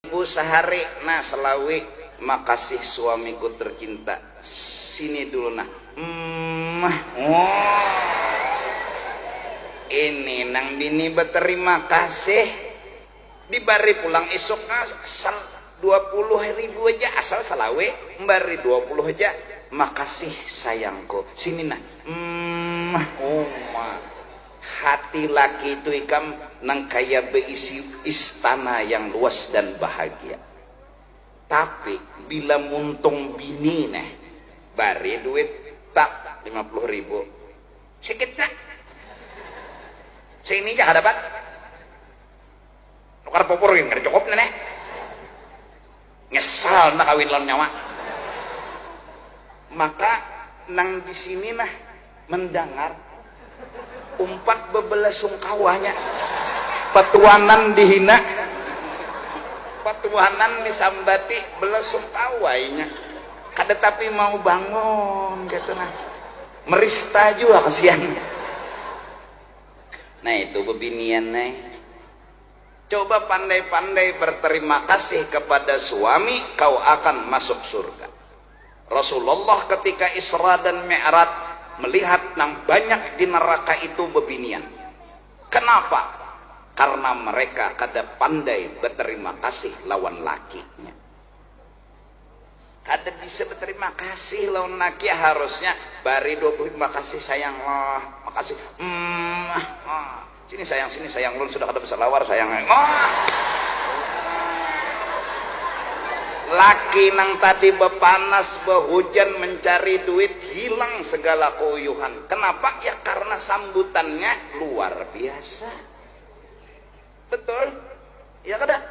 Ibu sahari nah salawi. Makasih suamiku tercinta. Sini dulu nah. Mmah. Wooh. Ini nang bini beterima kasih. Dibari pulang isuk nah asal dua puluh ribu haja asal salawi. Mbari dua puluh haja. Makasih sayangku. Sini nah. Mmah. Wooh. Hati laki itu ikam nang kaya beisi istana yang luas dan bahagia. Tapi bila muntung bini neh, bari duit tap lima puluh ribu. Sikit ja. Seini ja hadapan. Nukar pupur gin kada cukup nah neh. Nyesal handak kawin lawan nyawa. Maka nang di sini nah mendangar umpat bebelah sungkawa nya. Petuanan dihina, petuanan disambati belah sungkawa inya. Kada tapi mau bangun kaytu nah. Merista jua kasian. Nah itu bebinian ai. Coba pandai-pandai berterima kasih kepada suami kau akan masuk surga. Rasulullah ketika Isra dan Mi'raj melihat nang banyak di neraka itu bebinian. Kenapa? Karena mereka kada pandai beterima kasih lawan lakinya. kada bisa beterima kasih lawan laki harusnya bari 20 makasih sayang lah makasih mm ah, sini sayang sini sayang lun sudah kada berselawar sayang oh. laki nang tadi bepanas behujan mencari duit hilang segala keuyuhan kenapa ya karena sambutannya luar biasa betul ya kada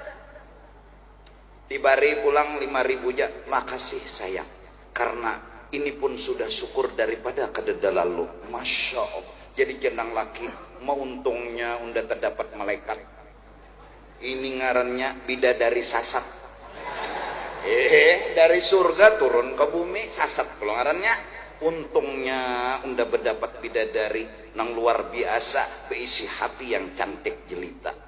Dibari pulang lima ribu ja, makasih sayang. Karna ini pun sudah syukur daripada kadada lalu. Masya Allah. Jadi jar nang laki, mauntungnya unda tadapat malaikat. Ini ngarannya bidadari sasat. Hehe, dari surga turun ka bumi, sasat pulang ngarannya. Untungnya unda badapat bidadari nang luar biasa, beisi hati yang cantik jelita.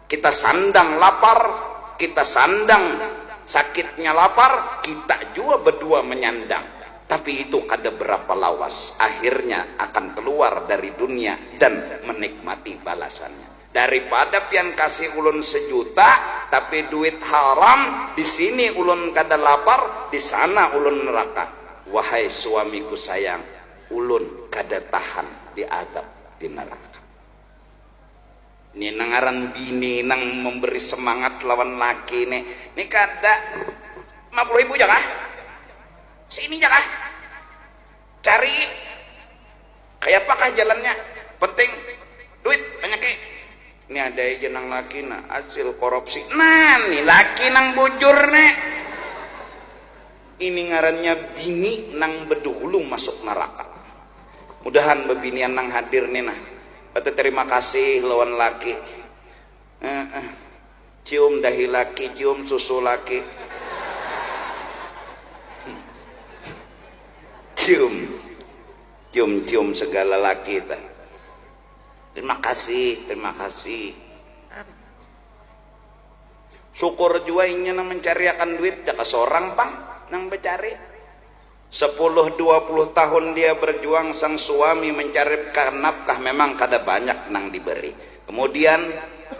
Kita sandang lapar, kita sandang sakitnya lapar, kita jua bedua menyandang. Tapi itu kada berapa lawas, akhirnya akan keluar dari dunia dan menikmati balasannya. Daripada pian kasih ulun sejuta, tapi duit haram, di sini ulun kada lapar, di sana ulun neraka. Wahai suamiku sayang, ulun kada tahan diadab di neraka. Ni nang ngaran bini nang memberi semangat lawan laki ni. Ni kada lima puluh ribu ja kah? Sini ja kah? Cari kayapakah jalannya? Penting duit banyaki. Ni ada aja nang laki nah, hasil korupsi. Nah, ni laki nang bujur ni. Ini ngarannya bini nang bedahulu masuk neraka. Mudahan bebinian nang hadir ni nah beteterima kasih lawan laki. Heeh. Cium dahi laki, cium susu laki. Cium. Cium-cium segala laki tah. Terima kasih, terima kasih. Syukur jua inya nang mancariakan duit, jaka sorang pang nang bacari. Sepuluh dua puluh tahun dia berjuang sang suami mancaripkan nafkah memang kada banyak nang diberi. Kemudian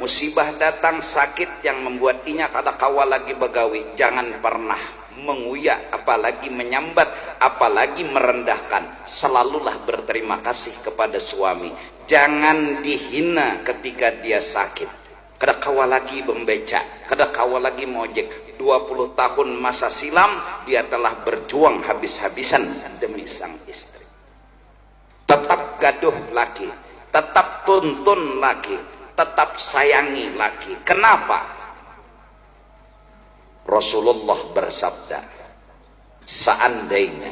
musibah datang, sakit yang membuat inya kada kawa lagi bagawi. Jangan pernah menguya apalagi menyambat, apalagi merendahkan. Selalulah berterima kasih kepada suami. Jangan dihina ketika dia sakit. Kada kawa lagi bembeca, kada kawa lagi mengojek, dua puluh tahun masa silam dia telah berjuang habis-habisan demi sang istri. Tetap gaduh laki, tetap tuntun laki, tetap sayangi laki. Kenapa? Rasulullah bersabda, Seandainya.